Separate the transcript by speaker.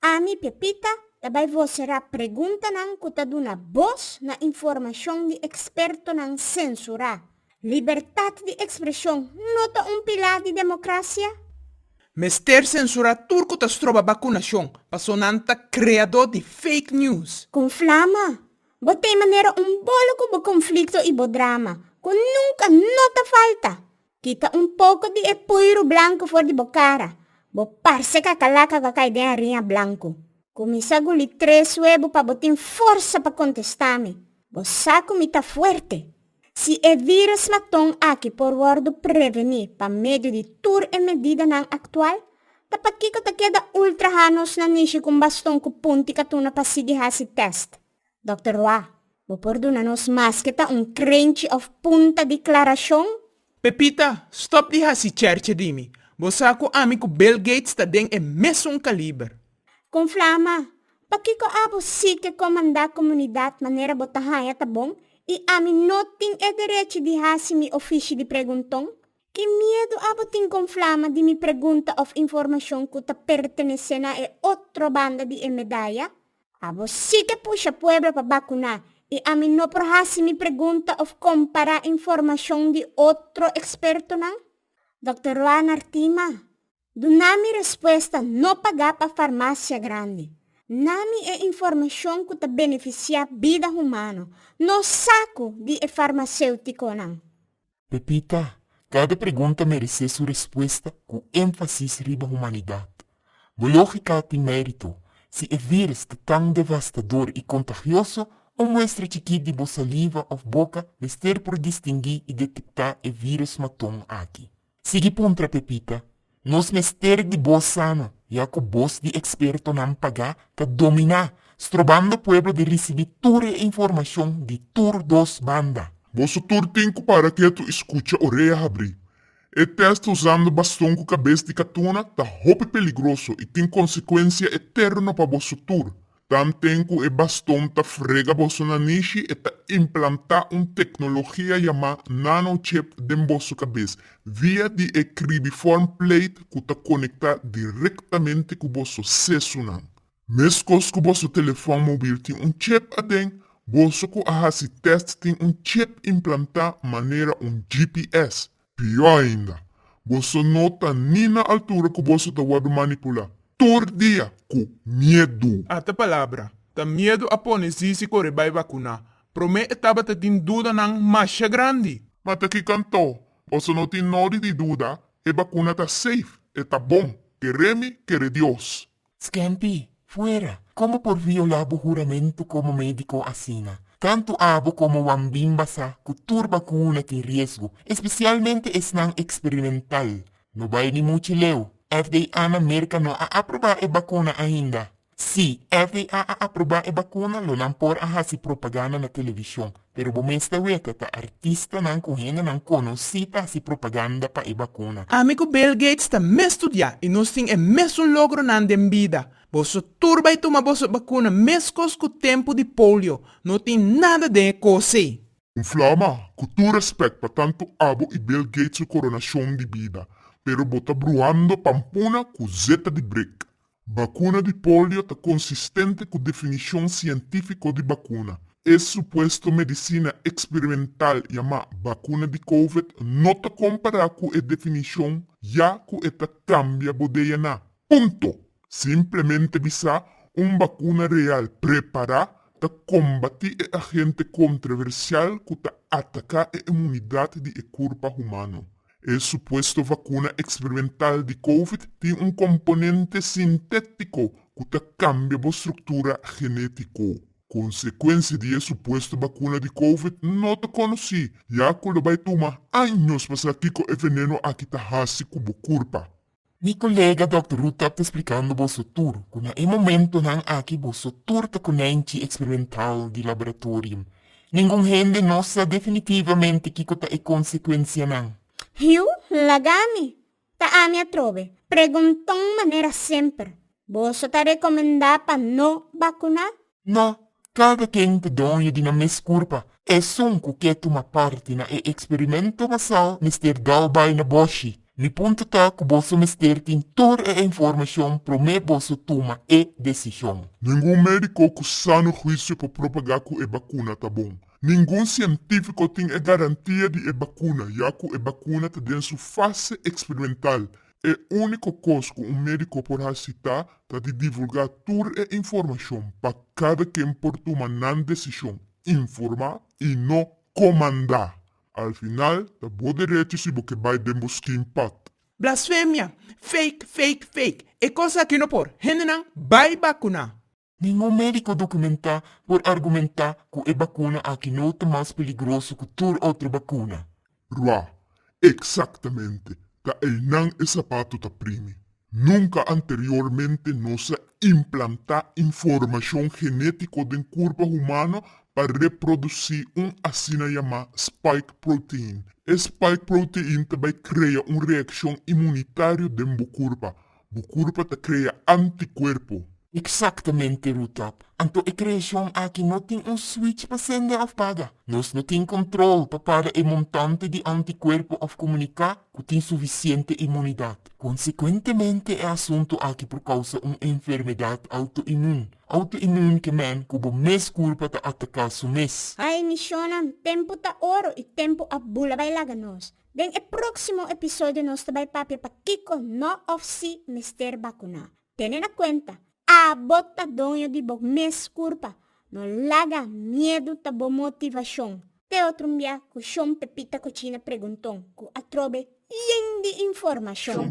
Speaker 1: Ami, Pepita, ta bai vocerá preguntanan cu ta duna boz na informacion di expertonan censurá. Libertad di expresion no ta un pilar di democracia? Mester
Speaker 2: censurá tur cu ta stroba bacunacion, paso nan ta creadó di fake news. Con Flama,
Speaker 1: bo ta e manera un bolo cu bo conflicto y bo drama, cu nunca no ta falta. Kita un poko di e puiru blanku for di bo kara. Bo parse kakalaka ku a kai den ariña blanku. Kuminsá guli tres webu pa bo tin forsa pa kontestá mi. Bo sa ku mi ta fuerte. Si e vírus maton aki por wòrdu prevení pa medio di tur e medidanan aktual, ta pakiko ta keda ultra haña nos na nishi ku un baston ku punti katuna pa sigui hasi tèst? Dòkter Roa, bo por duna nos maske ta un krenchi òf punta di klarashon? Pepita,
Speaker 2: stòp di hasi chèrche di mi. Bo sa ku ami ku Bill Gates ta den e mesun kaliber. Kon flama,
Speaker 1: pakiko abo si ke komandá komunidat manera bo ta haña ta bon i ami no tin e derechi di hasi mi ofishi di pregunton? Ki miedu abo tin kon flama di mi pregunta òf informashon ku ta pertenesé na e otro banda di e medaya? Abo si ke pusha pueblo pa bakuná i ami no por hasi mi pregunta òf kompará informashon di otro ekspertonan? Dòkter Roanar Tima, Duna mi respuesta no pagá pa farmasia grandi. Na mi e informashon ku ta benefisiá bida humano, no sa ku di e farmaséutikonan. Pepita,
Speaker 3: Kada pregunta meresé su respuesta ku énfasis riba humanidat. Bo lógika a tin mérito, si e vírus ta tan devastador i kontagioso, un muestra chikit di bo saliva òf boka mester por distinguí i detektá e vírus maton aki. Sigui puntra, Pepita, Nos mester di bo sana, ya ku bos di ekspertonan pagá ta dominá, strobando pueblo di risibí tur e informashon di tur dos banda. Boso tur tin
Speaker 4: ku para ketu i skucha orea habrí. E tèst usando baston ku kabes di katuna ta hopi peligroso i tin konsekuensia eterno pa boso tur. Tanten ku e baston ta frega boso na nishi, e ta implantá un teknologia yamá nanochip den boso kabes, via di e kribiform plate ku ta konektá direktamente ku boso sesunan. Meskos ku boso telefòn mobil tin un chip aden, boso ku a hasi tèst tin un chip implantá manera un GPS, Pió ainda, boso no ta ni na altura ku boso ta wòrdu manipulá tur dia ku miedu. Ata palabra.
Speaker 2: Ta miedu a pone Zizi kore bai vakuná. Promé e tabata tin dudanan masha grandi. Ma ta ki kantó
Speaker 4: boso no tin nodi di duda, e bakuna ta safe, e ta bon. Keré mi, keré Dios. Scanty,
Speaker 3: Fuera! Con bo por viola bo huramento como medico asina? Tanto abo como Wan Bim basa cu tur bacuna tin riesgo, especialmente esnan experimental. No bay ni muchi leu, FDA na Merca no a aproba e bacuna ainda. Si, FDA a aproba e bacuna, lo nan por a haci propaganda na television. Pero bo mester wete ta artistanan ku hendenan konosí ta hasi propaganda pa e bakuna. Ami ku Bill Gates
Speaker 2: ta mes studiá i nos tin e mesun logronan den bida. Boso tur bai tuma boso bakuna meskos ku tempu di polio. No tin nada den e kos ei. Un flou ma,
Speaker 4: ku tur respèt pa tantu abo i Bill Gates su koronashon di bida, pero bo ta bruhando pampuna ku zeta di brik. Bakuna di polio ta konsistente ku definishon sientífiko di bakuna. E supuesto medisina eksperimental yamá bakuna di Covid no ta kompará ku e definishon ya ku e ta kambia bodeyanan. Punto! Simplemente bisá un bakuna real prepará ta kombatí e agente kontroversial ku ta ataká e imunidat di e kurpa humano. E supuesto vacuna experimental di covid tin un componente sintetico cu ta cambia bo structura genetico. Consecuencia di e supuesto vacuna di covid no ta conoci, ya cu lo bay tuma años pa sa kico e veneno aki ta haci cu bo curpa. Mi colega
Speaker 3: Dòkter Ruth tap ta splikando boso tur cu na e momentonan aki boso tur ta konènchi eksperimental di laboratorio. Ningun hende no sa definitivamente kiko ta e konsekuensianan. Hiu,
Speaker 1: laga mi! Ta ami atrobe. Pregunton manera semper, Boso ta rekomendá pa no bakuná? No,
Speaker 3: kada ken ta doño di nan mes kurpa. Esun ku ke tuma parti na e eksperimento masal mester dao bai na boshi. Mi punto ta ku boso mester tin tur e informashon promé boso tuma e desishon. Ningun médiko
Speaker 4: ku sano huisio por propagá ku e bakuna ta bon. Ningun sientífiko tin e garantia di e bakuna, ya ku e bakuna ta den su fase eksperimental E úniko kos ku un médiko por hasi ta ta di divulgá tur e informashon pa kada ken por tuma nan desishon informá i no komandá. Al final ta bo derecho si bo ke bai den bo skin pad. Blasfemia!
Speaker 2: Fake, fake, fake! E kos aki no por. Hendenan bai bakuná. Ningun médiko
Speaker 3: dokumentá por argumentá ku e bakuna aki no ta mas peligroso ku tur otro bakuna. Ra,
Speaker 4: Eksaktamente, ta einan e sapatu ta primi. Nunka anteriormente nos a implantá informashon genétiko den kurpa humano pa reprodusí un asina yamá spike protein. E spike protein ta bai krea un reakshon imunitario den bo kurpa, Bo kurpa ta krea antikuerpo. Eksaktamente,
Speaker 3: Rutap. Anto e kreashon aki no tin un swich pa sende òf paga. Nos no tin kontròl pa para e montante di antikuerpo òf komuniká ku tin sufisiente imunidat. Konsekuentemente e asuntu aki por kousa un enfermedat outoimun, autoimmune kemen, ku bo mes kurpa ta ataká su mes. Ai, Mishona,
Speaker 1: tempu ta oro i tempu a bula bai laga nos. Den e próksimo episodio nos ta bai papia pa kiko no òf sí mester bakuná. Tene na kuenta, Abo ta doño di bo mes kurpa. No laga miedu ta bo motivashon. Te otro un bia ku Shon Pepita Kuchina Pregunton ku a trobe yen di informashon.